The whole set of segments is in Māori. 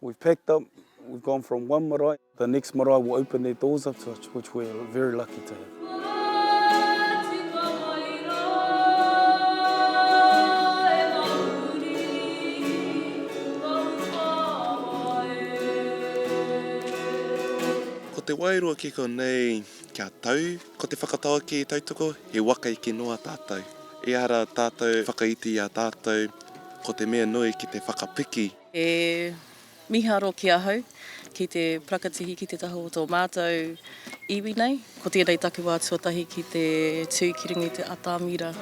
We've packed up, we've gone from one marae, the next marae will open their doors up to us, which we're very lucky to have. Ko te wairua ki konei kia tau, ko te whakataua ki tautoko, he waka eke noa tātou. Ehara tātou whakaiti i a tātou, ko te mea nui ki te whakapiki. He miharo ki ahau, ki te parakatihi ki te taha o tō mātou iwi nei. Ko tēnei taku wā tuatahi ki te tū ki runga i te atamira.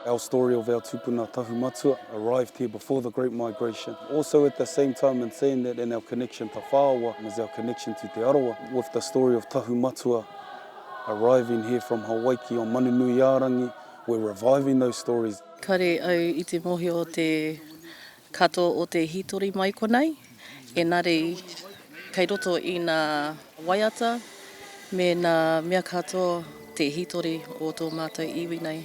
Our story of our tupuna Tahu Matua arrived here before the Great Migration. Also at the same time in saying that and our connection to Whaoa is our connection to Te Arawa with the story of Tahu Matua. Arriving here from Hawaiki on Manunuiārangi, we're reviving those stories. Kare au i te mohio o te katoa o te hitori mai konei, enari kei roto i na waiata me na mea katoa te hitori o to matou iwi nei.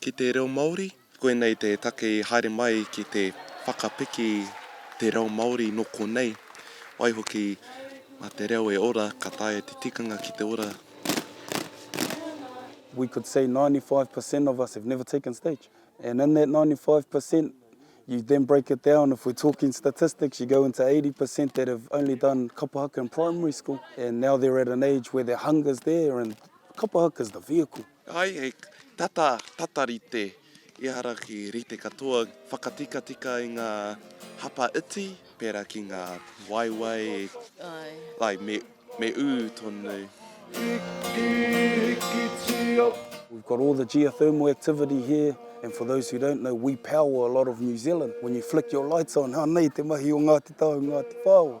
ki te reo Māori. Koinei te take i haere mai ki te whakapiki te reo Māori nō konei. Waihoki, mā te reo e ora, ka taea te tikanga ki te ora. We could say 95 per cent of us have never taken stage and in that 95 per cent you then break it down if we're talking statistics you go into 80 per cent that have only done kapa haka in primary school and now they're at an age where their hunger is there and kapa haka is the vehicle. Ai, he tata, tata rite, ehara ki rite katoa, whakatikatika i ngā hapa iti, pērā ki ngā waewae, ai, me, me ū tonu. Hiki, hikitio. We've got all the geothermal activity here, and for those who don't know, we power a lot of New Zealand. When you flick your lights on, anei te mahi o Ngāti Tahu, Ngāti Whāo.